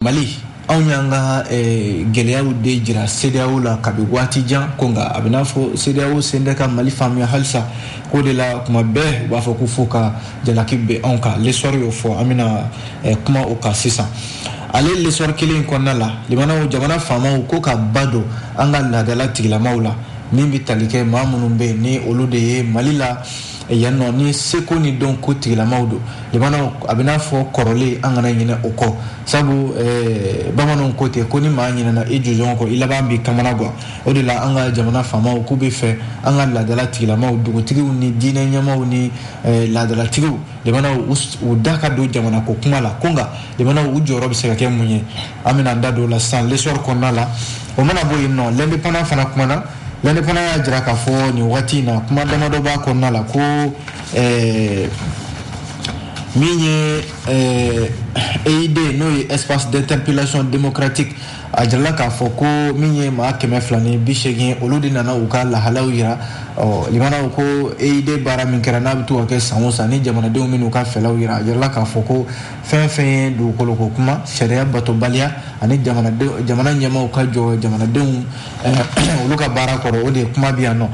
mali anw y'an ka eh, gɛlɛyaw de jira sedeyaw la kabi waati jan ko nka a bɛn'a fɔ sedeyaw sen tɛ ka mali faamuya halisa ko de la kuma bɛɛ u b'a fɔ ko fo ka jalaki bin anw kan lesɔri y'o fɔ an bɛna eh, kuma o kan sisan ale lesɔri kelen in kɔnɔna la limanaw jamana faamaw ko ka ba don an ka laadala tigilamaw la min bɛ tali kɛ maa minnu bɛ yen ni olu de ye mali la yan nɔ ni seko ni dɔnko tigilamaw don limanaw a bɛ n'a fɔ kɔrɔlen an kana ɲinɛ o kɔ sabu eh, bamananw ko ten ko ni maa ɲinɛna i jujɔn kɔ i laban b'i kamana gan o de la an ka jamana faamaw k'u bɛ fɛ an ka laadala tigilamaw dugutigiw ni diinɛ ɲɛmaw ni eh, laadalatigiw limanaw u da ka don jamanako kuma la ko nka limanaw u jɔyɔrɔ bɛ se ka kɛ mun ye an bɛna an da don o la sisan lesɔri kɔnɔna la o mana bɔ yen nɔ lɛndepanan fana kumana lɛndepanan y'a jira k'a fɔ nin wagati in na kuma damadɔ b'a kɔnɔna la ko eh, min ye eh, eid n'o ye espace d'interpellation démocratique a jirala k'a fɔ ko min ye maa kɛmɛ fila ni bi seegin olu de nana u ka lahalaw yira ɔ limanaw ko eid baara min kɛra n'a bɛ to ka kɛ san o san ni jamanadenw bɛ n'u ka fɛlaw yira a jirala k'a fɔ ko fɛn fɛn ye dugukoloko kuma sariya batobaliya ani jamana ɲɛmaw ka jɔ jamanadenw eh, olu ka baara kɔrɔ o de ye kuma bi yan nɔ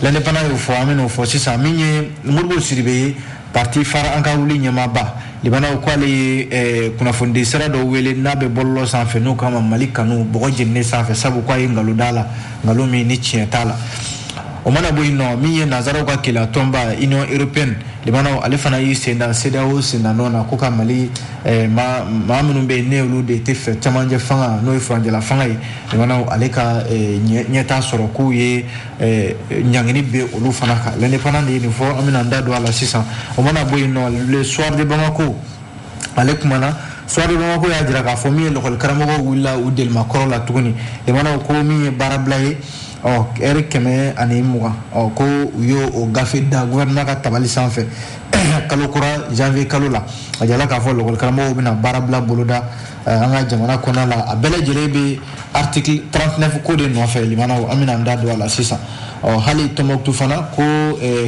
lɛndepanan y'o fɔ an bɛn'o fɔ sisan min ye modibo sidibe ye parti fare an ka wuli ɲɛmaaba limanaw k'ale ye eh, kunnafonidi sira dɔ wele n'a bɛ bɔlɔlɔ sanfɛ n'o kama mali kanu bɔgɔ jeninen sanfɛ sabu k'a ye nkalon da a la nkalon min ni tiɲɛ t'a la o mana bɔ yen nɔ min ye nazaraw ka kelenya tɔnba union européenne limanaw ale fana y'i sen da sedeyaw sendanɔ na ko ka mali eh, maa ma minnu bɛ yen ni olu de tɛ fɛ cɛmancɛ fanga n'o ye furancɛla fanga ye limanaw ale ka eh, ɲɛtaa sɔrɔ k'u ye eh, ɲangini bin olu fana kan l'indépendant de ye nin fɔ an bɛna an da don a la sisan o mana bɔ yen nɔ le soir de bamako ale kumana soir de bamako y'a jira k'a fɔ min ye lɔkɔlikaramɔgɔw wulila u delimakɔrɔ la tuguni limanaw ko min ye baarabila ye ɔ ɛri kɛmɛ ani mugan ɔ ko u y'o o gafe da gouvernement ka tabali sanfɛ kalo kura janvier kalo la a jirala k'a fɔ lɔkɔlikaramɔgɔw bɛna baarabila boloda an ka jamana kɔnɔna la a bɛɛ lajɛlen bɛ article 39 ko de nɔfɛ limanaw an bɛna an da don a la sisan ɔ hali tɔnbɔkutu fana ko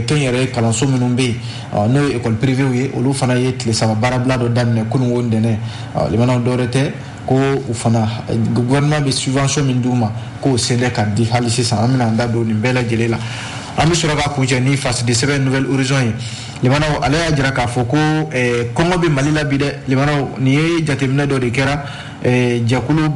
kɛnyɛrɛ kalanso minnu bɛ yen n'o ye ekɔli pirivew ye olu fana ye tile saba baarabila dɔ daminɛ kununko ntɛnɛn limanaw dɔwɛrɛ tɛ ko u fana gouvernement bɛ subvention min d'u ma k'o sen tɛ ka di hali sisan an bɛna an da don nin bɛɛ lajɛlen la an bɛ sɔrɔ ka kuncɛ ni fasidi sɛbɛn nouvel horizon ye limanaw ale y'a jira k'a fɔ ko eh, kɔngɔ bɛ mali la bi dɛ limanaw nin ye jateminɛ dɔ de kɛra eh, jɛkulu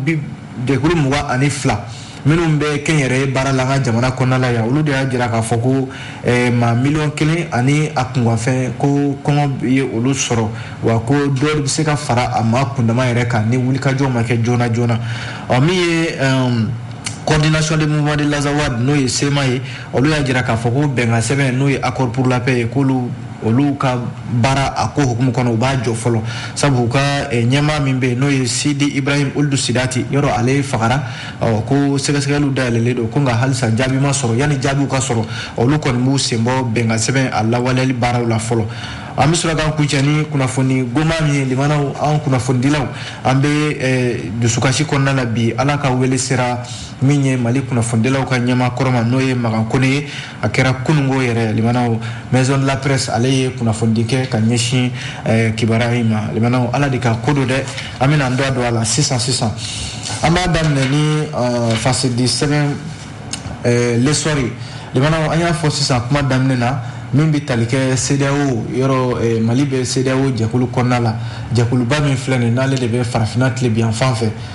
jɛkulu mugan ani fila minnu bɛ kɛnyɛrɛye baara la an ka jamana kɔnɔna la yan olu de y'a jira k'a fɔ ko eh, maa miliyɔn kelen ani a kunkanfɛn ko kɔngɔ ye olu sɔrɔ wa ko dɔ bɛ se ka fara a maa kundama yɛrɛ kan ni wulikajɔ ma kɛ joona joona ɔ min ye eh, coordination des mouvements de l'azawad n'o ye sema ye olu y'a jira k'a fɔ ko bɛnkan sɛbɛn n'o ye accord pour la paix ye k'olu olu ka baara a ko hukumu kɔnɔ u b'a jɔ fɔlɔ sabu u ka eh, ɲɛmaa min bɛ yen n'o ye sidi ibrahim ould sidati yɔrɔ ale fagara ɔ ko sɛgɛsɛgɛliw dayɛlɛlen don ko nka halisa jaabi ma sɔrɔ yanni jaabiw ka sɔrɔ olu kɔni b'u sen bɔ bɛnkan sɛbɛn a lawaleyali baaraw la fɔlɔ an bɛ sɔrɔ k'an kuncɛ ni kunnafoni goman min ye limanaw an kunnafonidilaw an bɛ eh, dusukasi kɔnɔna la bi ala ka wele sera min ye mali kunnafonidilaw ka ɲɛmaa kɔrɔ ma n'o ye magan kone ye a kɛra kunungo yɛrɛ limanaw maison de la presse ale ye kunnafonidi kɛ ka ɲɛsin eh, kibaruya in ma limanaw ala de ka ko don dɛ an bɛna an da don a la sisan sisan an b'a daminɛ ni eh, faso sɛbɛn eh, lesɔri limanaw an y'a fɔ sisan kuma daminɛ na min bɛ tali kɛ CEDEAO yɔrɔ eh, Mali bɛ CEDEAO jɛkulu kɔnɔna la jɛkuluba min filɛ nin n'ale de bɛ farafinna tilebinyanfan fɛ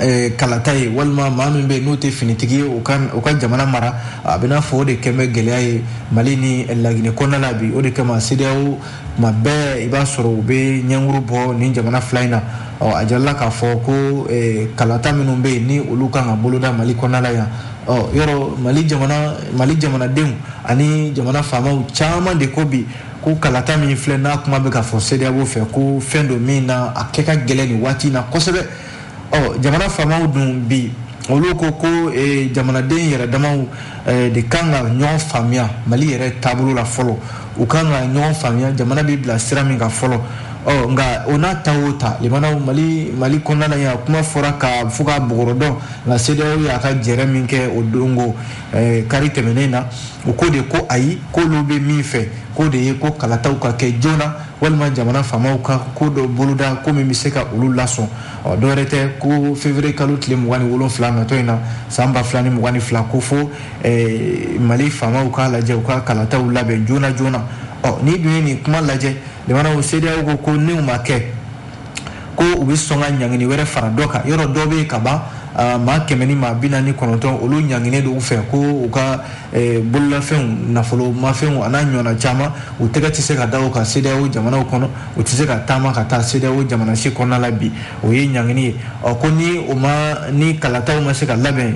Eh, kalata ye walima maa min bɛ n'o tɛ finitigi ye o ka jamana mara a bɛ n'a fɔ o de kɛlen bɛ gɛlɛya ye mali ni laginɛ kɔnɔna la bi o de kama sedeyawo tuma bɛɛ i b'a sɔrɔ u bɛ ɲɛkuru bɔ nin jamana fila in na ɔ a jirala k'a fɔ ko eh, kalata minnu bɛ yen ni olu kan ka boloda mali kɔnɔna la yan ɔ yɔrɔ mali jamanadenw ani jamana faamaw caman de ko bi ko kalata min filɛ n'a kuma bɛ ka fɔ sedeyawo fɛ ko fɛn don min na a kɛ ka gɛlɛn nin waati in na kosɛbɛ ɔ jamana faamaw dun bi olu ko ko eh, jamanaden yɛrɛ damaw eh, de kan ka ɲɔgɔn faamuya mali yɛrɛ taabolo la fɔlɔ u kan ka ɲɔgɔn faamuya jamana bɛ bila sira min kan fɔlɔ ɔ nka o n'a ta o ta limanaw mali mali kɔnɔna la yan kuma fɔra ka fɔ ka bɔgɔrɔ dɔn nka sedeyawo y'a ka jɛrɛ min kɛ o dongo Eh, kari tɛmɛnen na u ko de ko ayi k'olu bɛ min fɛ k'o de ye ko kalataw ka kɛ joona walima jamana faamaw ka ko dɔ boloda ko min bɛ se ka olu lasɔn ɔ dɔwɛrɛ tɛ ko février kalo tile mugan ni wolonfila natɔ in na san ba fila ni mugan ni fila ko fo eh, mali faamaw k'a lajɛ u ka kalataw labɛn joona joona ɔ n'i dun ye nin kuma lajɛ limanaw sedeyawo ko ko n'u ma kɛ ko u bɛ sɔn ka ɲangini wɛrɛ fara dɔ kan yɔrɔ dɔ bɛ yen ka ban maa kɛmɛ ni maa bi naani ni kɔnɔntɔn olu ɲanginen don u fɛ ko u ka bololafɛnw nafolomafɛnw a n'a ɲɔgɔnna caman u tɛgɛ tɛ se ka da u kan sedeyawo jamanaw kɔnɔ u tɛ se ka taama ka taa sedeyawo jamana si kɔnɔna la bi o ye ɲangini ye ɔ ko ni o ma ni kalataw ma se ka labɛn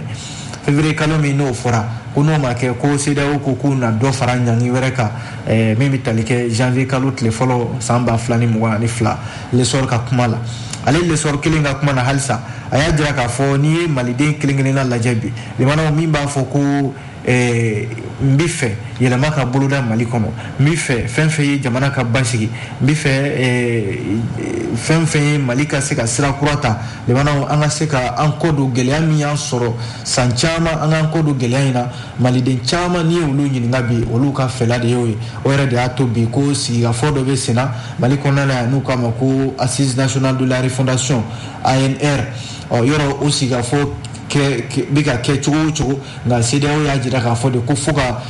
février kalo min n'o fɔra ko n'o ma kɛ ko CEDEAO ko k'u na dɔ fara ɲangi wɛrɛ kan eh, min bɛ tali kɛ janvier kalo tile fɔlɔ san ba fila ni mugan ani fila l'Essor ka kuma la ale l'Essor kelen ka kuma na halisa a y'a jira k'a fɔ n'i ye maliden kelen kelenna lajɛ bi limanaw min b'a fɔ ko eh, n bɛ fɛ yɛlɛma ka boloda mali kɔnɔ n bɛ fɛ fɛn fɛn ye jamana ka basigi n bɛ fɛ eh, fɛn fɛn ye mali ka se ka sira kura ta limanaw an ka se ka an kɔ don gɛlɛya min y'an sɔrɔ san caman an k'an kɔ don gɛlɛya in na maliden caman n'i ye olu ɲininka bi olu ka fɛla de y'o ye o yɛrɛ de y'a to bi ko sigikafɔ dɔ bɛ senna mali kɔnɔna la yan n'u k'a ma ko assise nationale de la refondation ANR ɔ yɔrɔ o sigikafɔ bɛ ka kɛ cogo o cogo nka CEDEAO y'a jira k'a fɔ de ko fo ka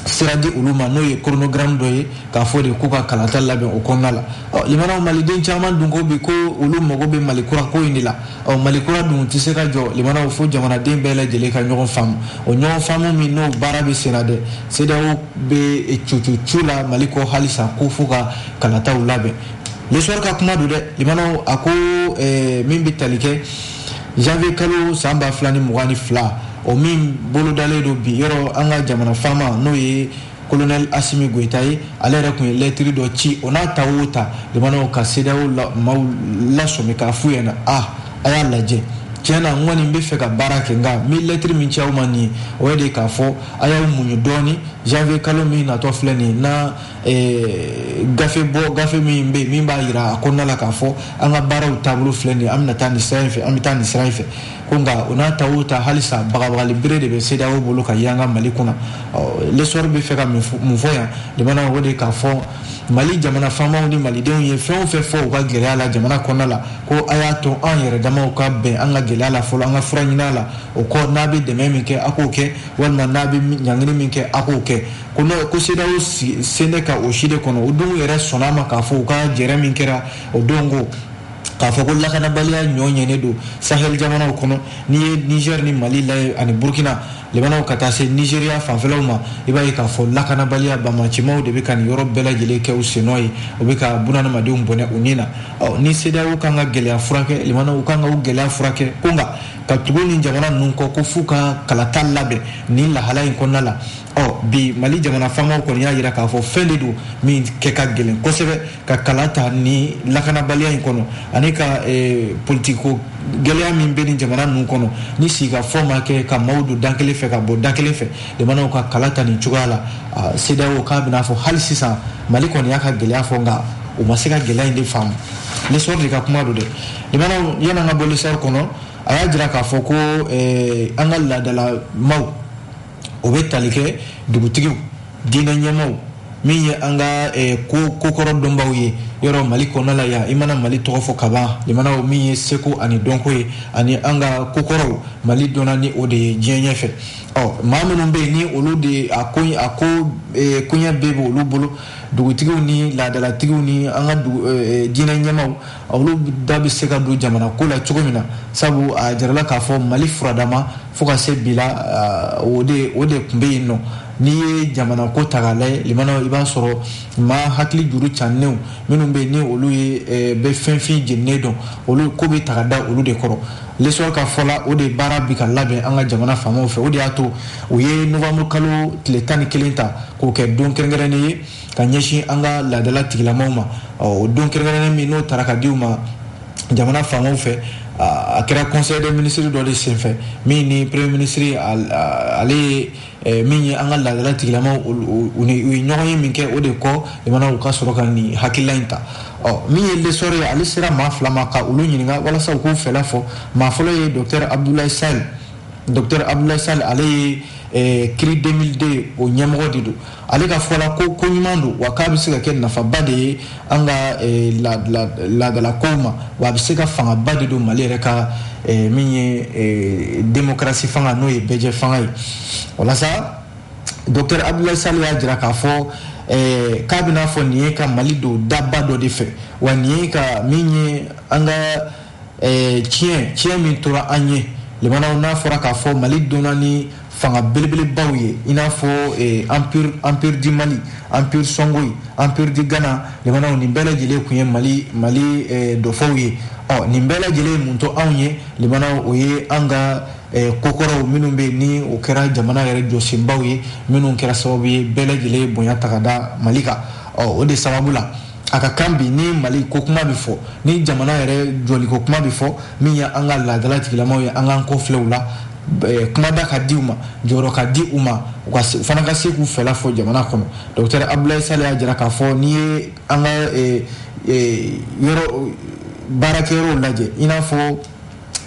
sira di olu ma n'o ye chronogramme dɔ ye k'a fɔ de k'u ka kalata labɛn o kɔnɔna la ɔ limanaw maliden caman dun ko bi ko olu mago bɛ mali kura ko in de la ɔ mali kura dun tɛ se ka jɔ limanaw fo jamanaden bɛɛ lajɛlen ka ɲɔgɔn faamu o ɲɔgɔn faamu min n'o baara bɛ senna dɛ CEDEAO bɛ cucucu la mali kɔ halisa ko fo ka kalataw labɛn l'Essor ka kuma don dɛ limanaw a ko eh, min bɛ tali kɛ janvier kalo san ba fila ni mugan ni fila o min bolodalen don bi yɔrɔ an ka jamana faama n'o ye colonel Assimi Goïta ye ale yɛrɛ tun ye lɛtiri dɔ ci o n'a ta o ta limanaw ka CEDEAO maaw lasɔmi k'a f'u ɲɛna a ah, a y'a lajɛ tiɲɛ na n kɔni bɛ fɛ ka baara kɛ nka n bɛ lɛtiri min ci aw ma nin ye o ye de k'a fɔ a y'aw muɲu dɔɔni janvier kalo min natɔ filɛ nin na eh, gafe bɔ gafe min bɛ yen min b'a jira a kɔnɔna la k'a fɔ an ka baaraw taabolo filɛ nin ye an bɛna taa nin sira in fɛ an bɛ taa nin sira in fɛ ko nka o n'a ta o ta halisa bagabagali bere de bɛ CEDEAO bolo ka yanga Mali kunna l'Essor bɛ fɛ ka mun fɔ yan limanaw o de k'a fɔ Mali jamana faamaw ni malidenw ye fɛn o fɛn fɔ u ka gɛlɛya la jamana kɔnɔna la ko a y'a to an yɛrɛ damaw ka bɛn an ka gɛlɛya la fɔlɔ an ka fura ɲin'a la o kɔ n'a bɛ dɛmɛ min kɛ a k'o kɛ walima n'a bɛ ɲangini min kɛ a k'o kɛ ko n'o ko CEDEAO sen bɛ ka o si de kɔnɔ o dun yɛrɛ sɔnna a ma k'a fɔ u ka jɛrɛ min kɛra o don ko k'a fɔ ko lakanabaliya ɲɔɲɛnen don sahel jamanaw kɔnɔ n'i ye niger ni mali lajɛ ani burkina limanaw ka taa se nigeriya fanfɛlaw ma i b'a ye k'a fɔ lakanabaliya bamacimaw de bɛ ka nin yɔrɔ bɛɛ lajɛlen kɛ u sennɔ ye o bɛ ka bunadamadenw bɔnɛ u ni na ɔ ni CEDEAO kan ka gɛlɛya furakɛ limanaw kan ka u gɛlɛya furakɛ ko nka ka tugu nin jamana ninnu kɔ ko f'u ka kalata labɛn nin lahala in kɔnɔna la ɔ bi mali jamana faamaw kɔni y'a jira k'a fɔ fɛn de don min kɛ ka gɛlɛn kosɛbɛ ka kala ta ni lakanabaliya in kɔnɔ ani ka eh, politiko gɛlɛya min bɛ ni jamana ninnu kɔnɔ ni sigikafɔ ma kɛ ka maaw don da kelen fɛ ka bɔ da kelen fɛ maintenant ka kala ta nin cogoya la ah, CEDEAO k'a bɛna fɔ hali sisan mali kɔni y'a ka gɛlɛya fɔ nka u ma se ka gɛlɛya in de faamu lesɔr de ka kuma don dɛ maintenant yann'an ka bɔ lesɔr kɔnɔ a y'a jira k'a fɔ ko eh, an ka laadala maaw o bɛ tali kɛ dugutigiw diinɛ ɲɛmaaw min ye an ka eh, ko kokɔrɔ dɔnbaw ye yɔrɔ mali kɔnɔ la yan i mana mali tɔgɔ fɔ ka ban maintenant min ye seko ani dɔnko ye ani an ka kokɔrɔw mali dɔnna ni o de ye diɲɛ ɲɛfɛ ɔ maa minnu bɛ yen ni olu de a ko a ko eh, koɲɛ bɛɛ bɛ olu bolo dugutigiw ni laadalatigiw ni an ka eh, diinɛ ɲɛmaaw olu da bɛ se ka don jamana ko la cogo min na sabu a jirala k'a fɔ mali furadama fo ka se bi la ah, o de o de tun bɛ yen nɔ n'i ye jamana ko ta k'a lajɛ maintenant i b'a sɔrɔ maa hakili juru cannenw minnu bɛ yen ni olu ye eh, bɛ fɛnfin jeninen dɔn olu ko bɛ ta ka da olu de kɔrɔ lesɔr ka fɔ la o de baara bɛ ka labɛn an ka jamana faamaw fɛ o de y'a to u ye novanburu kalo tile tan ni kelen ta k'o kɛ don kɛrɛnkɛrɛnnen ye ka ɲɛsin an ka laadala tigilamaw ma o don kɛrɛnkɛrɛnnen min n'o tara ka di u ma jamana faamaw fɛ a kɛra conseil des ministres dɔ de senfɛ min ni premier ministre ale ye eh, min ye an ka laadala tigilamaw ye ɲɔgɔnye min kɛ o de kɔ maintenant u ka sɔrɔ ka nin hakilila in ta ɔ min ye lesɔr ye ale sera maa fila ma ka olu ɲininka walasa u k'u fɛla fɔ maa fɔlɔ ye docteur abdoulaye sall docteur abdoulaye sall ale ye eh, CRI 2002 o ɲɛmɔgɔ de don ale ka fɔ la ko ko ɲuman don wa k'a bɛ se ka kɛ nafaba de ye an ka eh, laadalakow ma wa a bɛ se ka fangaba de don mali yɛrɛ ka eh, min ye eh, demokarasi fanga n'o ye bɛɛjɛ fanga ye walasa docteur abdoulaye sall y'a jira k'a fɔ k'a bɛna fɔ nin ye ka mali don daba dɔ de fɛ wa nin ye ka min ye an ka eh, ciyɛn ciyɛn min tora an ye maintenant n'a fɔra k'a fɔ mali dɔnna ni fanga belebelebaw ye i n'a fɔ eh, empire empire du mali empire songhai empire du ghana maintenant nin bɛɛ lajɛlen tun ye mali mali eh, dɔfɔw ye ɔ nin bɛɛ lajɛlen ye mun to anw ye maintenant o ye an ka Eh, kokɔrɔw minnu bɛ yen ni o kɛra jamana yɛrɛ jɔsenbaw ye minnu kɛra sababu ye bɛɛ lajɛlen ye bonya ta ka da mali kan ɔ o de sababu la a ka kan bi ni mali ko kuma bɛ fɔ ni jamana yɛrɛ jɔliko kuma bɛ fɔ min ye an ka laadala tigilamaw ye an k'an kɔfilɛ u la eh, kumada ka di u ma jɔyɔrɔ ka di u ma u ka se- u fana ka se k'u fɛla fɔ jamana kɔnɔ docteur abdoulaye sall y'a jira k'a fɔ n'i ye an ka eh, eh, yɔrɔ baarakɛyɔrɔw lajɛ i n'a fɔ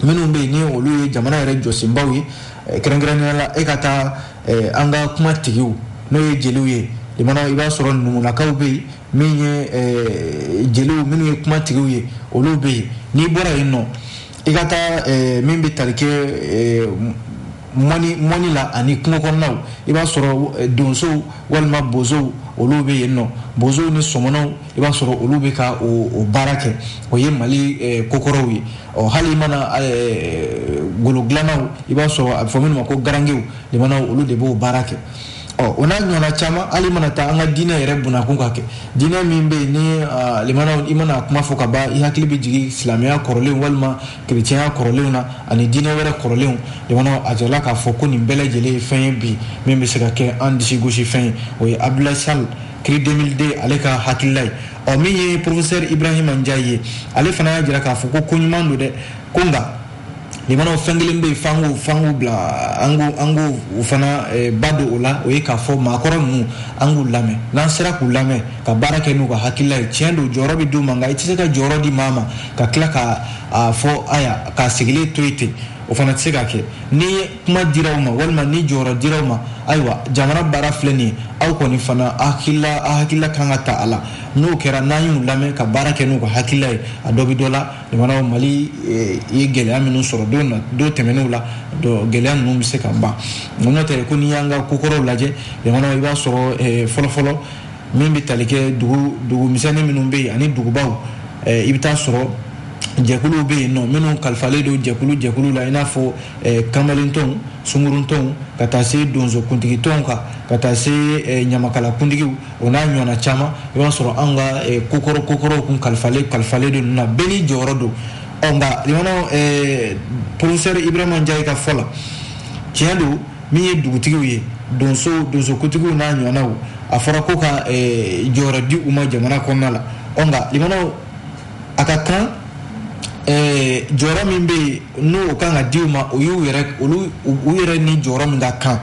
minnu bɛ yen ni olu ye jamana yɛrɛ jɔsenbaw ye eh, kɛrɛnkɛrɛnnenya la i ka taa eh, an ka kuma tigiw n'o ye jeliw ye i b'a sɔrɔ numulakaw bɛ yen min ye eh, jeliw minnu ye kuma tigiw ye olu bɛ yen n'i bɔra yen nɔ i ka taa min bɛ tali kɛ mɔnni mɔnni la ani kungo kɔnɔnaw i b'a sɔrɔ eh, donsow walima bozow olu bɛ yen nɔ bozow ni sɔmɔnɔw i b'a sɔrɔ olu bɛ ka o baara kɛ o ye mali eh, kokɔrɔw ye ɔ hali i mana eh, golo dilannaw i b'a sɔrɔ a bɛ fɔ minnu ma ko garangew limanaw olu de b'o baara kɛ ɔ o n'a ɲɔgɔnna caman hali i mana taa an ka diinɛ yɛrɛ bunakun ka kɛ diinɛ min bɛ yen ni limanaw i mana kuma fɔ ka ban i hakili bɛ jigin silamɛya kɔrɔlen walima kerecɛnya kɔrɔlenw na ani diinɛ wɛrɛ kɔrɔlenw jamana a jirala k'a fɔ ko nin bɛɛ lajɛlen ye fɛn ye bi min bɛ se ka kɛ an disi gosi fɛn ye o ye abdoulaye sall cri 2002 ale ka hakilila ye ɔ min ye professeur ibrahima ndiaye ye ale fana y'a jira k'a fɔ ko ko ɲuman don dɛ ko nka limanaw fɛn kelen bɛ yen f'an k'o f'an k'o bila an k'o an k'o o fana eh, ba don o la o ye k'a fɔ maakɔrɔ ninnu an k'u lamɛn n'an sera k'u lamɛn ka baara kɛ n'u ka hakilila ye tiɲɛ don jɔyɔrɔ bɛ d'u ma nka i tɛ se ka jɔyɔrɔ di maa ma ka tila ka a fɔ aya k'a sigilen to yen ten o fana tɛ se ka kɛ ni kuma dira aw ma walima ni jɔyɔrɔ dira aw ma ayiwa jamana baara filɛ nin ye aw kɔni fana a hakilila a hakilila kan ka ta a la n'o kɛra n'an y'u lamɛn ka baara kɛ n'u ka hakilila ye a dɔ bɛ dɔ la jamana mali eh, ye gɛlɛya minnu sɔrɔ don na don tɛmɛnenw la gɛlɛya ninnu bɛ se ka ban n'o tɛ ko n'i y'an ka kokɔrɔw lajɛ jamana i b'a sɔrɔ eh, fɔlɔfɔlɔ min bɛ tali kɛ dugu dugu misɛnnin minnu bɛ yen ani dugubaw eh, i bɛ taa sɔrɔ jɛkuluw bɛ yen nɔ minnu kalifalen don jɛkulu jɛkulu la i n'a fɔ eh, kamalentɔnw sunguruntɔnw ka taa se donsokuntigitɔnw kan ka taa se eh, ɲamakalakuntigiw o n'a ɲɔgɔnna caman i b'a sɔrɔ an ka eh, kokɔrɔ kokɔrɔw kun kalifalen kalifalen don ninnu na bɛɛ n'i jɔyɔrɔ don ɔ nka limanaw eh, professeur ibrahima ndiaye ka fɔ la tiɲɛ don min ye dugutigiw ye donso donsokuntigiw n'a ɲɔgɔnnaw a fɔra ko ka eh, jɔyɔrɔ di u ma jamana kɔnɔna la ɔ nka limanaw a ka kan eh, jɔyɔrɔ min bɛ yen n'o kan ka di u ma o y'u yɛrɛ olu u yɛrɛ ni jɔyɔrɔ min ka kan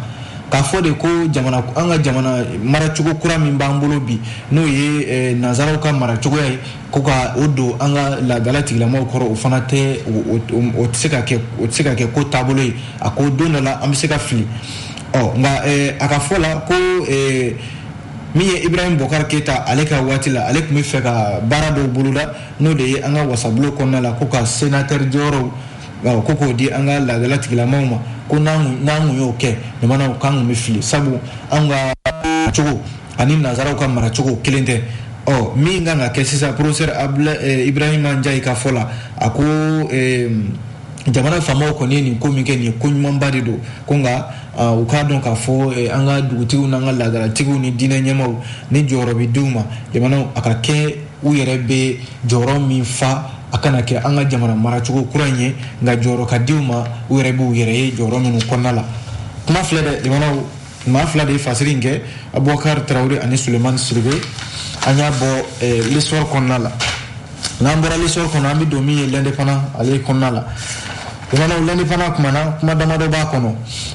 k'a fɔ de ko jamana an ka jamana maracogo kura min b'an bolo bi n'o ye eh, nanzaraw ka maracogoya ye ko ka o don an ka laadala tigilamaw kɔrɔ o fana tɛ o tɛ se ka kɛ o tɛ se ka kɛ ko taabolo ye a ko don dɔ la an bɛ se ka fili ɔ nka eh, a ka fɔ la ko eh, min ye ibrahim bokar keita ale ka waati la ale tun b'a fɛ ka baara dɔw boloda n'o de ye an ka wasabulon kɔnɔna la ko ka sénateur jɔyɔrɔw ko k'o di an ka laadala tigilamaw ma ko n'an tun y'o kɛ limanaw k'an tun bɛ fili sabu an ka cogo ani nanzaraw ka maracogo kelen tɛ ɔ min kan ka kɛ sisan professeur eh, ibrahima njayi ka fɔ la a ko eh, jamana faamaw kɔni ye nin ko min kɛ nin ye ko ɲumanba de don ko nka ah, u k'a dɔn k'a fɔ eh, an ka dugutigiw n'an ka laadalatigiw ni diinɛ ɲɛmaaw ni jɔyɔrɔ bɛ d'u ma jamanaw a ka kɛ u yɛrɛ bɛ jɔyɔrɔ min fa a kana kɛ an ka jamana maracogo kura in ye nka jɔyɔrɔ ka di u ma u yɛrɛ b'u yɛrɛ ye jɔyɔrɔ minnu kɔnɔna la kuma filɛ dɛ jamanaw maa fila de ye fasiri in kɛ abubakar tarawele ani sulemani siribe an y'a bɔ eh, l'essor kɔnɔna la n'an bɔra l'essor kɔnɔ an bɛ don min ye l'indépendant ale kɔnɔna la jamanaw l'indépendant kumana kuma damadɔ b'a kɔnɔ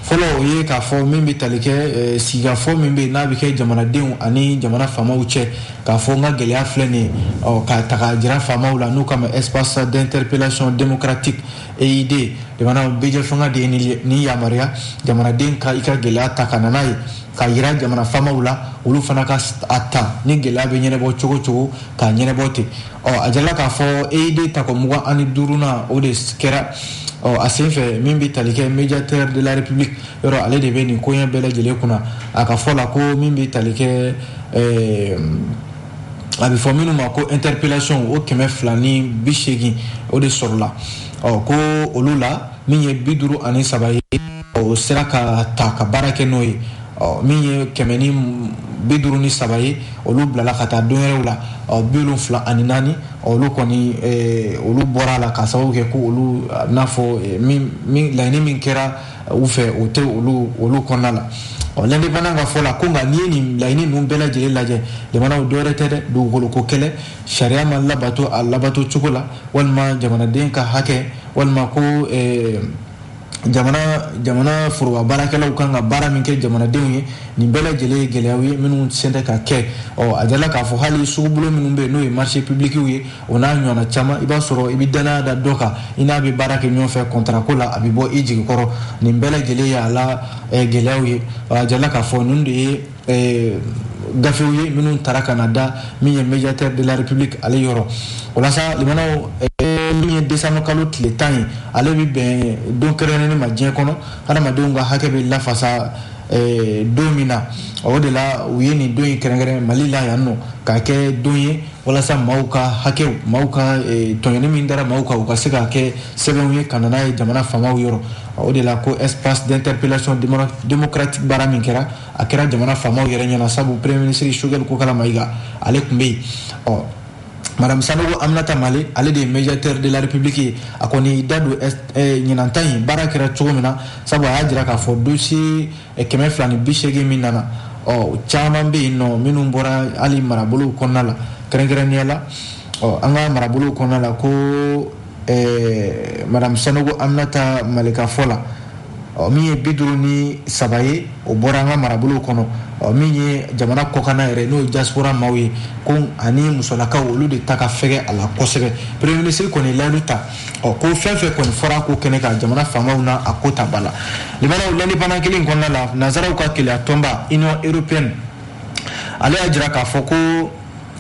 fɔlɔ o ye k'a fɔ min bɛ tali kɛ eh, sigikafɔ min bɛ yen n'a bɛ kɛ jamanadenw ani jamana faamaw cɛ k'a fɔ n ka gɛlɛya filɛ nin ye ɔ, k'a ta k'a jira faamaw la n'u k'a ma espace d'interpellation démocratique eid jamana bɛɛjɛ fanga de ye nin yamaruya jamanaden ka i ka gɛlɛya ta ka na n'a ye k'a yira jamana faamaw la olu fana ka a ta ni gɛlɛya bɛ ɲɛnɛbɔ cogo cogo ka ɲɛnɛbɔ ten ɔ a jala k'a fɔ eid tako mugan ani duurunan o de kɛra ɔ a sen fɛ min bɛ tali kɛ médiateur de la république yɔrɔ ale de bɛ nin koɲɛ bɛɛ lajɛlen kunna a ka fɔ la ko min bɛ tali kɛ a bɛ fɔ minnu ma ko interpellation o kɛmɛ fila ni bi seegin o de sɔrɔla ɔ ko olu la min ye bi duuru ani saba ye o sera ka ta ka baara kɛ n'o ye ɔ min ye kɛmɛ ni bi duuru ni saba ye olu bilala ka taa don wɛrɛw la ɔ bi wolonfila ani naani olu kɔni olu bɔra a la ka sababu kɛ ko olu n'a fɔ laɲini min kɛra u fɛ o tɛ olu olu kɔnɔna la ɔ l'indépendant ka fɔ la ko nka n'i ye nin laɲini ninnu bɛɛ lajɛlen lajɛ jamanaw dɔwɛrɛ tɛ dɛ dugukolo ko kɛlɛ sariya ma labato a labato cogo la walima jamanaden ka hakɛ walima ko eh, jamana jamana foroba baarakɛlaw kan ka baara min kɛ jamanadenw ye nin bɛɛ lajɛlen ye gɛlɛyaw ye minnu sen tɛ ka kɛ ɔ a jala k'a fɔ hali sugubolo minnu bɛ yen n'o ye marché publicw ye o n'a ɲɔgɔnna caman i b'a sɔrɔ i bɛ dannaya da dɔ kan i n'a bɛ baara kɛ ɲɔgɔn fɛ kɔntara ko la a bɛ bɔ i jigi kɔrɔ nin bɛɛ lajɛlen ye a la eh, gɛlɛyaw ye a jala k'a fɔ ninnu de ye eh, gafew ye minnu tara ka na da min ye médiateur de la république ale yɔrɔ o la sa jamanaw eh, min ye décembre kalo tile tan ye ale bɛ bɛn don kɛrɛnkɛrɛnnen ma diɲɛ kɔnɔ hadamadenw ka hakɛ bɛ lafasa don min na o de la u ye nin don in kɛrɛnkɛrɛn mali la yan nɔ k'a kɛ don ye walasa maaw ka hakɛw maaw ka eh, tɔɲɔni min dara maaw kan u ka se ka kɛ sɛbɛnw ye ka na n'a ye jamana faamaw yɔrɔ o de la ko espace d'interpellation démocratique baara min kɛra a kɛra jamana faamaw yɛrɛ ɲɛna sabu premier ministre sogɛli kokala mayiga ale tun bɛ yen ɔ madame sanogo aminata male ale de ye médiateur de la république ye a kɔni da don eh, ɲinan ta in baara kɛra cogo min na sabu a y'a jira k'a fɔ dossier kɛmɛ fila ni bisegin min nana ɔ caman bɛ yen nɔ minnu bɔra hali marabolow kɔnɔna la kɛrɛnkɛrɛnnenya la ɔ an ka marabolow kɔnɔna la ko ɛɛ madame sanogo aminata male ka fɔ la ɔ min ye bi duuru ni saba ye o bɔra an ka marabolow kɔnɔ ɔ min ye jamana kɔkanna yɛrɛ n'o ye diaspora maaw ye ko ani musolakaw olu de ta ka fɛgɛ a la kosɛbɛ premier ministre kɔni ye layidu ta ɔ ko fɛn fɛn kɔni fɔra ko kɛnɛ kan jamana faamaw na a ko ta ba la limanaw l'indépendant kelen kɔnɔna la nazaraw ka keleya tɔnba union européenne ale y'a jira k'a fɔ ko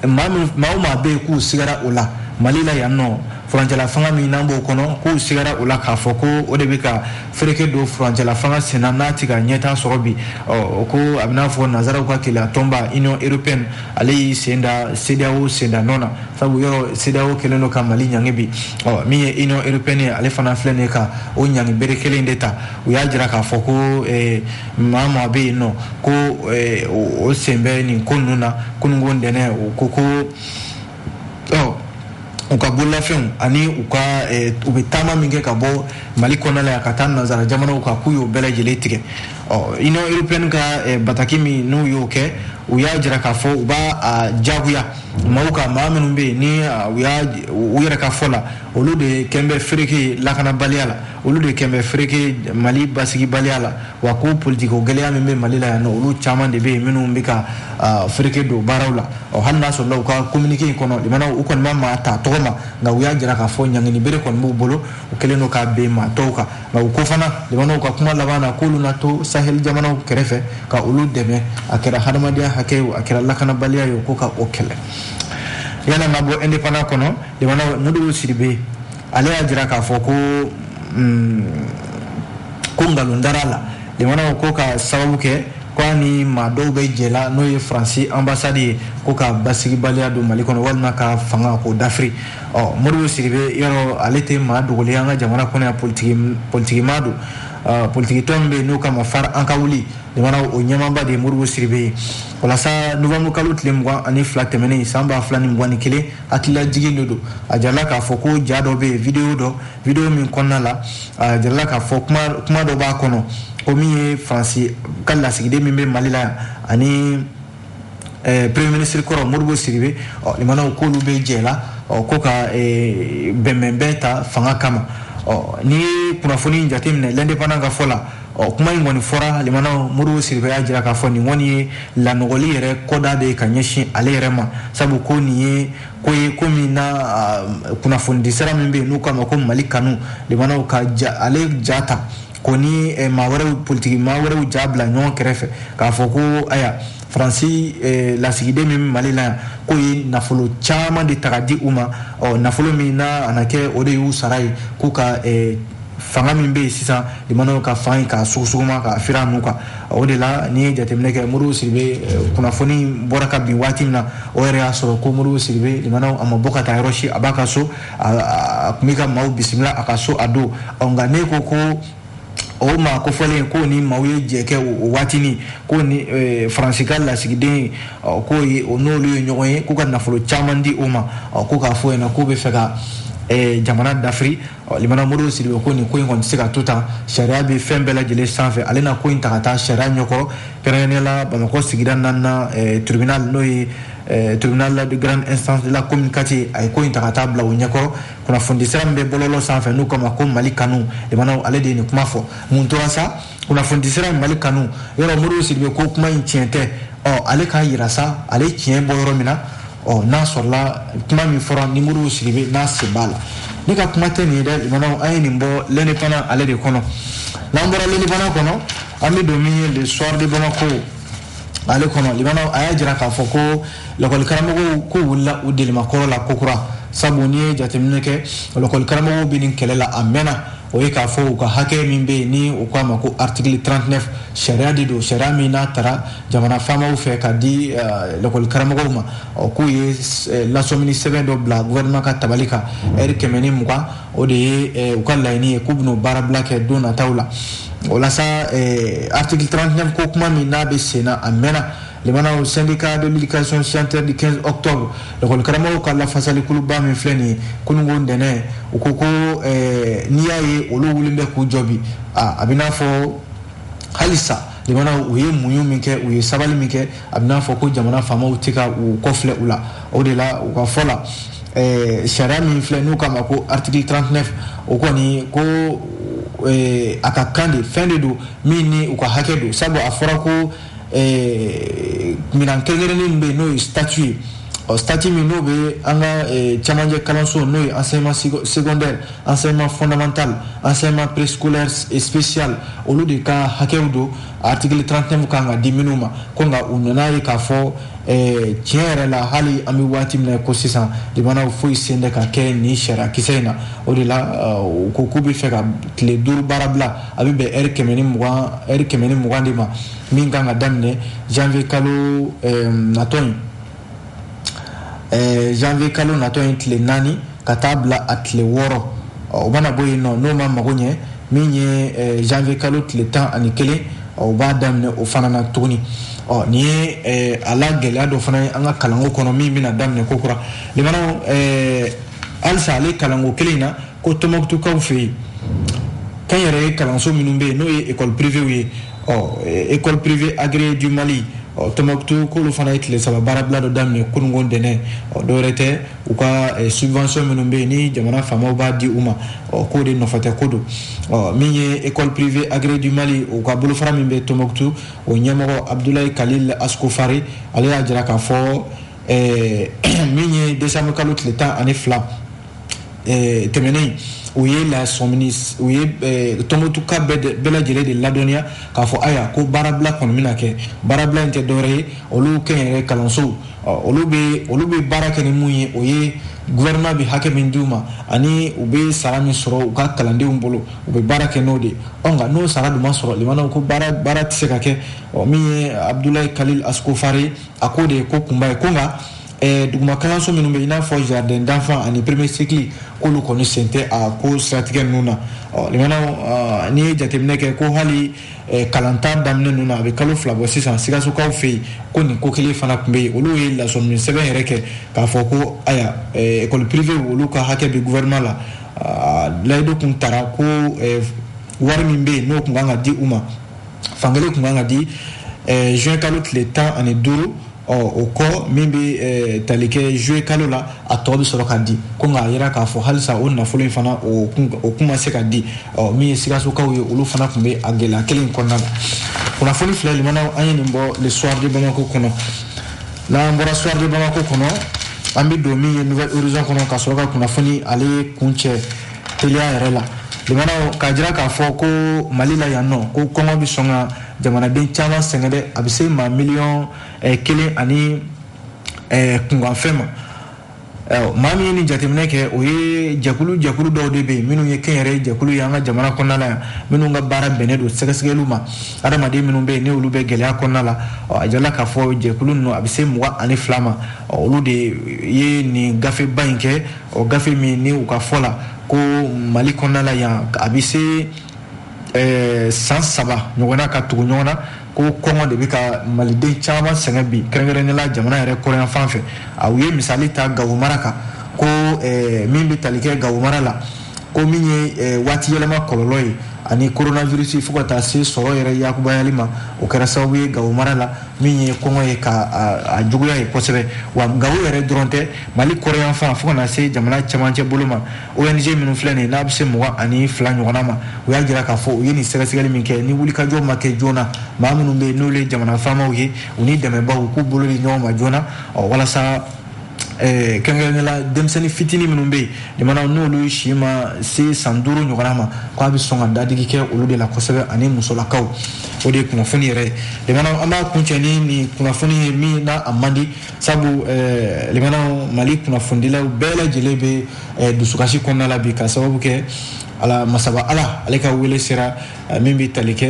maa o maa bɛ yen k'u sigara o la mali la yan nɔ furancɛla fanga min n'an b'o kɔnɔ k'u sigara o la k'a fɔ ko o de bɛ ka fereke don furancɛla fanga senna n'a tɛ ka ɲɛtaa sɔrɔ bi ɔ ko a bɛ n'a fɔ nazaraw ka keleya tɔnba union européenne ale y'i sen da CEDEAO senda nɔ na sabu yɔrɔ CEDEAO kɛlen don ka Mali ɲangi bi ɔ min ye Union européenne ye ale fana filɛ nin ye ka o ɲangi bere kelen de ta u y'a jira k'a fɔ ko eh, maa o maa bɛ yen nɔ ko eh, o sen bɛ nin ko ninnu na kununko ntɛnɛn u ko ko u ka bololafɛnw ani u ka eh, u bɛ taama min kɛ ka bɔ mali kɔnɔna la yan ka taa nanzara jamanaw kan k'u y'o bɛɛ lajɛlen tigɛ ɔ union européenne ka eh, bataki min n'u y'o kɛ u y'a jira k'a fɔ u b'a a jagoya maaw kan maa minnu bɛ yen ni u y'a u yɛrɛ ka fɔ la olu de kɛn bɛ fereke lakanabaliya la olu de kɛn bɛ fereke mali basigibaliya la wa ko politiko gɛlɛya min bɛ mali la yan nɔ olu caman de bɛ yen minnu bɛ ka fereke don baaraw la ɔ hali n'a sɔrɔla u ka kominike in kɔnɔ limanaw u kɔni ma maa ta tɔgɔ ma nka u y'a jira k'a fɔ ɲangini bere kɔni b'u bolo u kɛlen don k'a ben maa tɔw kan nka u ko fana limanaw ka kuma laban na k'olu na to sahel jamanaw kɛrɛfɛ ka olu dɛmɛ a kɛra hadamadenya hakɛ ye a kɛra lakanabaliya ye ko ka o kɛlɛ yan an ma bɔ independant kɔnɔ limanaw modibo sidibe ale y'a jira k'a fɔ ko mm, ko nkalon dara a la limanaw ko ka sababu kɛ ko a ni maa dɔw bɛ jɛ la n'o ye faransi ambassade ye ko ka basigibaliya don mali kɔnɔ walima ka fanga k'o dafiri ɔ modibo sidibe yɔrɔ ale tɛ maa dogolen an ka jamana kɔnɔ yan politiki politikimaa don politikitɔn min bɛ yen n'o kama FARE an ka wuli limanaw o ɲɛmaaba de ye modibo sidibe ye walasa novanburu kalo tile mugan ani fila tɛmɛnen san ba fila ni mugan ni kelen hakililajigin de don a jarala k'a fɔ ko ja dɔ bɛ yen video dɔ video min kɔnɔna la a jarala k'a fɔ kuma dɔ b'a kɔnɔ ko min ye faransi ka lasigiden min bɛ mali la yan ani eh, premier ministre kɔrɔ modibo sidibe ɔ limanaw k'olu bɛ jɛ la ɔ ko ka eh, bɛnbɛnbɛn ta fanga kama ɔ n'i ye kunnafoni in jateminɛ l'indépendant ka fɔ la Ɔ kuma in kɔni fɔra limana modibo sidibe y'a jira k'a fɔ nin kɔni ye lanɔgɔli yɛrɛ kɔdan de ye ka ɲɛsin ale yɛrɛ ma sabu ko nin ye ko ye ko min na kunnafonidi sira min bɛ yen n'u k'a ma ko mali kanu limanaw ka ale ja ta ko ni maa wɛrɛw politigi maa wɛrɛw ja bila ɲɔgɔn kɛrɛfɛ k'a fɔ ko ayiwa faransi lasigiden min mali la yan k'o ye nafolo caman de ta ka di u ma ɔ nafolo min na a kɛ o de y'u sara ye k'u ka fanga min bɛ yen sisan limanaw ka fanga ka sugusuguma k'a firi a nun kan o de la n'i ye jateminɛ kɛ modibo sidibe eh, kunnafoni bɔra ka bin waati min na o yɛrɛ y'a sɔrɔ ko modibo sidibe limanaw a ma bɔ ka taa yɔrɔ si a b'a ka so a tun bɛ ka maaw bisimila a ka so a don nka ne ko ko o maa kofɔlen ko ni maaw ye jɛ kɛ o waatini ko ni e, faransi ka lasigiden ko o n'olu ye ɲɔgɔn ye k'u ka nafolo caman di o ma ko k'a fɔ yen na k'u bɛ fɛ ka e, jamana dafiri limana modibo sidibe ko nin ko in kɔni tɛ se ka to tan sariya bɛ fɛn bɛɛ lajɛlen sanfɛ ale na ko in ta ka taa sariya ɲɛkɔrɔ kɛrɛnkɛrɛnnenya la bamakɔ sigida naaninan eh, tribunal n'o ye eh, tribunal de grande instance de la commune quatre a ye ko in ta ka taa bila o ɲɛkɔrɔ kunnafonidisira min bɛ bɔlɔlɔ sanfɛ n'u k'a ma ko mali kanu limanaw ale de ye nin kuma fɔ mun tora sa kunnafonidi sira in mali kanu yɔrɔ modibo sidibe ko kuma in tiɲɛ tɛ ɔ ale k'a yira sa ale tiɲɛ bɔ yɔrɔ min na ɔ n'a sɔrɔla kuma min fɔra ni modibo sidibe n'a sen b'a la ne ka kuma tɛ nin ye dɛ limanaw an ye nin bɔ l'indépendant ale de kɔnɔ n'an bɔra l'indépendant kɔnɔ an bɛ don min ye le soir de bamako ale kɔnɔ limana a y'a jira k'a fɔ ko lakɔlikaramɔgɔw k'u wulila u delimakɔrɔ la kokura sabu n'i ye jateminɛ kɛ lakɔlikaramɔgɔw bɛ nin kɛlɛ la a mɛnna o ye k'a fɔ u ka hakɛ min bɛ yen ni u k'a ma ko article 39 sariya de don sariya min n'a tara jamana faamaw fɛ ka di eh, lakɔlikaramɔgɔw ma k'u ye eh, lasɔmini sɛbɛn dɔ bila gouvernement ka tabali kan ɛri kɛmɛ ni mugan o de ye u ka laɲini ye k'u bɛn'o baarabila kɛ don nataw la walasa article 39 ko kuma min n'a bɛ sen na a mɛnna limanaw syndicats de l'éducation signataires du 15 octobre lakɔli karamɔgɔw ka lafasali kuluba min filɛ nin ye kununko ntɛnɛn u ko ko n'i y'a ye olu wulilen bɛ k'u jɔ bi a b'i n'a fɔ halisa limanaw u ye muɲu min kɛ u ye sabali min kɛ a b'i n'a fɔ ko jamana faamaw tɛ ka u kɔfilɛ u la o de la u ka fɔ la eh, sariya min filɛ n'u k'a ma ko article 39 o kɔni ko eh, a ka kan de fɛn de don min ni u ka hakɛ don sabu a fɔra ko eh, minan kɛrɛnkɛrɛnnen min bɛ yen n'o ye statut ye ɔ statut min n'o bɛ an ka eh, cɛmancɛ kalanso n'o ye enseignement secondaire enseignement fondamental enseignement préscolaire spécial olu de ka hakɛw don article 39 ka kan ka di minnu ma ko nka u nan'a ye k'a fɔ eh, tiɲɛ yɛrɛ la hali an bɛ waati min na ko sisan limanaw foyi si tɛ ka kɛ nin sariya kisɛ in na o de la eh, u ko k'u bɛ fɛ ka tile duuru baarabila a bɛ bɛn ɛri kɛmɛ ni mugan ɛri kɛmɛ ni mugan de ma min kan ka daminɛ janvier kalo eh, natɔ in eh, janvier kalo natɔ in tile naani ka taa bila a tile wɔɔrɔ o mana bɔ yen nɔ n'o ma mago ɲɛ min ye eh, janvier kalo tile tan ani kelen o b'a daminɛ o fana na tuguni ɔ nin ye eh, a la gɛlɛya dɔ fana ye an ka kalanko kɔnɔ min bɛna daminɛ ko kura limanaw eh, halisa ale kalanko kelen in na ko tɔnbukutukaw fɛ yen kɛnyɛrɛye kalanso minnu bɛ yen n'o ye école privéew ye ɔ école privée agréée du mali ɔ tɔnbukutu k'olu fana ye tile saba baarabila dɔ daminɛ kununko ntɛnɛn ɔ dɔwɛrɛ tɛ u ka subvention minnu bɛ yen ni jamana faamaw b'a di u ma ɔ k'o de nɔfɛ tɛ ko don ɔ min ye école privée agréée du mali u ka bolofara min bɛ tɔnbukutu o ɲɛmɔgɔ abudulayi kalil askofari ale y'a jira k'a fɔ min ye décembre kalo tile tan ani fila eh, tɛmɛnen u ye lasɔmini u ye eh, tɔnbukutuka bɛɛ lajɛlen de ladɔnniya k'a fɔ aya ko baarabila kɔni bɛna kɛ baarabila in tɛ dɔwɛrɛ ye olu kɛnyɛrɛ kalansow olu bɛ olu bɛ baara kɛ ni mun ye o ye gouvernement bɛ hakɛ min d'u ma ani u bɛ sara min sɔrɔ u ka kalandenw bolo u bɛ baara kɛ n'o de ye ɔ nka n'o sara dun ma sɔrɔ limanaw ko baara baara tɛ se ka kɛ ɔ min ye abudulayi kalil askofari a k'o de ye ko kunba ye ko nka Eh, duguma kalanso minnu bɛ i n'a fɔ jardin d'enfant ani premier cycle k'olu kɔni sen tɛ a ko siratigɛ ninnu na limanaw n'i ye jateminɛ kɛ ko hali eh, kalanta daminɛ ninnu na a bɛ kalo fila bɔ sisan sikasokaw fɛ yen ko nin ko kelen fana tun bɛ yen olu ye lasɔmini sɛbɛn yɛrɛ kɛ k'a fɔ ko aya école eh, privée olu ka hakɛ bɛ gouvernement la ah, layidu tun tara ko wari min bɛ yen n'o tun kan ka di u ma fankelen tun kan ka di juin kalo tile tan ani duuru ɔ o kɔ min bɛ eh, tali kɛ juillet kalo la a tɔ bɛ sɔrɔ ka di ko nka a yira k'a fɔ halisa o nafolo in fana o kun ma se ka di ɔ min ye sikasokaw ye olu fana tun bɛ a gɛlɛya kelen in kɔnɔna la kunnafoni filɛ limanaw an ye nin bɔ le soir de bamako kɔnɔ n'an bɔra soir de bamako kɔnɔ an bɛ don min ye nouvel horizon kɔnɔ ka sɔrɔ ka kunnafoni ale kuncɛ teliya yɛrɛ la limanaw k'a jira k'a fɔ ko mali la yan nɔ ko kɔngɔ bɛ sɔn ka jamanaden caman sɛgɛn dɛ a bɛ se maa miliyɔn eh, kelen ani eh, kunkanfɛn ma eh, maa min ye nin jateminɛ kɛ o ye jɛkulu jɛkulu dɔw de bɛ yen minnu ye kɛnyɛrɛ jɛkulu ye an ka jamana kɔnɔna la yan minnu ka baara bɛnnen don sɛgɛsɛgɛliw ma adamaden minnu bɛ yen n'olu bɛ gɛlɛya kɔnɔna la a jirala k'a fɔ jɛkulu ninnu a bɛ se mugan ani fila ma olu de ye nin gafeba in kɛ o gafe min ni u ka fɔ la ko mali kɔnɔna la yan a bɛ se eh, san saba ɲɔgɔnna ka tugu ɲɔgɔn na ko kɔngɔ de bɛ ka maliden caman sɛgɛn bi kɛrɛnkɛrɛnnenya la jamana yɛrɛ kɔrɔnyanfan fɛ a u ye misali ta gawo mara kan ko eh, min bɛ tali kɛ gawo mara la ko min ye eh, waati yɛlɛma kɔlɔlɔ ye ani coronavirus fo ka taa se sɔrɔ yɛrɛ yakubayali ma o kɛra sababu ye gawo mara la min ye kɔngɔ ye ka a juguya yen kosɛbɛ wa gawo yɛrɛ dɔrɔn tɛ mali kɔrɔnyanfan fo ka na se jamana cɛmancɛ bolo ma ONG minnu filɛ nin ye n'a bɛ se mugan ani fila ɲɔgɔnna ma u y'a jira k'a fɔ u ye nin sɛgɛsɛgɛli min kɛ ni wulikajɔ ma kɛ joona maa minnu bɛ yen n'olu ye jamana faamaw ye u ni dɛmɛbaw u k'u bolo di ɲɔgɔn ma joona ɔ walasa eh, kɛrɛnkɛrɛnnenya la denmisɛnnin fitinin minnu bɛ yen limanaw n'olu si ma se san duuru ɲɔgɔnna ma k'a bɛ sɔn ka dadigi kɛ olu de la kosɛbɛ ani musolakaw o de ye kunnafoni yɛrɛ ye limanaw an b'a kuncɛ ni nin kunnafoni ye min n'a a man di sabu eh, limanaw mali kunnafonidilaw bɛɛ lajɛlen bɛ eh, dusukasi kɔnɔna la bi ka sababu kɛ ala masaba ala ale ka wele sera eh, min bɛ tali kɛ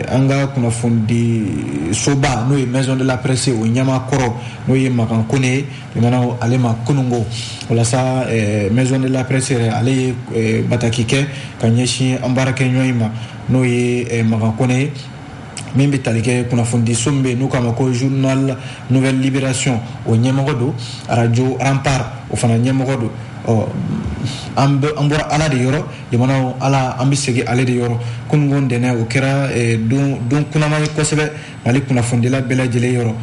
an ka kunnafonidi soba n'o ye maison de la presse o ɲɛmaa kɔrɔ n'o ye makan kone ye limanaw ale ma kununko walasa maison de la presse yɛrɛ ale ye bataki kɛ ka ɲɛsin an baarakɛɲɔgɔn in ma n'o ye makan kone ye min bɛ tali kɛ kunnafonidiso min bɛ yen n'u k'a ma ko journal nouvelle libération o ɲɛmɔgɔ don radio rempart o fana ɲɛmɔgɔ don ɔ an bɔra ala de yɔrɔ limanaw ala an bɛ segin ale de yɔrɔ kununko ntɛnɛn o kɛra eh, don kunaman ye kosɛbɛ mali kunnafonidila bɛɛ lajɛlen yɔrɔ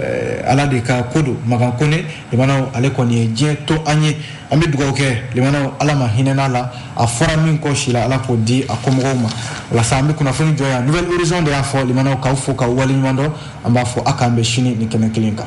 eh, ala de ka ko don makan kone limanaw ale kɔni ye diɲɛ to an ye an bɛ dugawu kɛ limanaw ala ma hinɛna a la a fɔra min kɔ si la ala k'o di a kɔmɔgɔw ma walasa an bɛ kunnafoni jɔ yan nouvel horizon de y'a fɔ limanaw k'aw fo k'aw waleɲuman dɔn an b'a fɔ a k'an bɛn sini nin kɛnɛ kelen kan